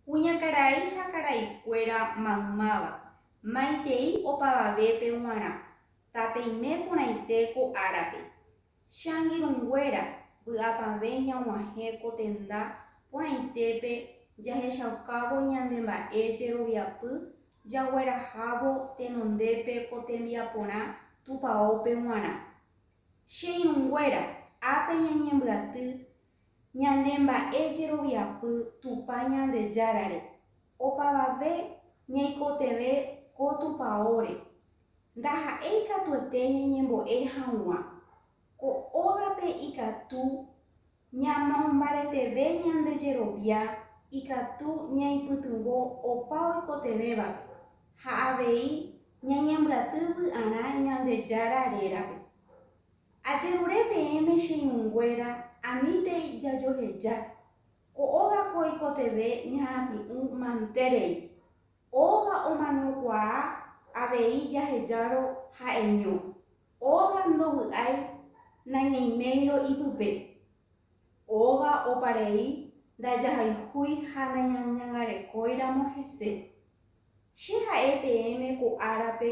Kuñakarai ha karaikuéra maymáva, maitei opavavépe g̃uarã, tapeime porãite ko árape. Che angirũnguéra, vy'apavẽ ñag̃uahẽ ko tenda porãitépe jahechaukávo ñande mba'e jeroviapy jaguerahávo tenondépe ko tembiaporã tupaópe g̃uarã. Che irũnguéra, ápe ñañembyaty Ñane mba'e jeroviapy Tupã Ñandejárare, opavave ñaikotevẽ ko tupaóre. Ndaha'éi katuete ñañembo'e haguã. Ko ógape ikatu ñamombareteve ñande jerovia ikatu ñaipytyvõ opa oikotevẽvape ha avei ñañembyaty vy'arã Ñandejára rérape. Ajerure peẽme che irũnguéra, anítei jajoheja, ko óga ko oikotevẽ iha'ãpi'ũ mante rei. Óga omanokuaa avei jahejárõ ha'eño, óga ndovy'ái nañaiméirõ ipype. Óga opa rei ndajahayhúi ha nañañangarekóiramo hese. Che ha'e peẽme ko árape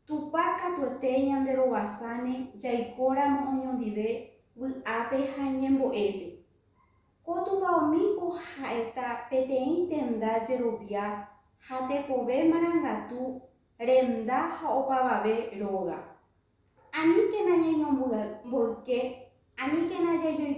Tupã katuete ñanderovasáne jaikóramo oñondive vy'ápe ha ñembo'épe. Ko Tupaomíko ha'eta peteĩ tenda jerovia ha tekove marangatu renda ha opavave róga. Aníkena ñañomboyke, aníkena jajoipotáta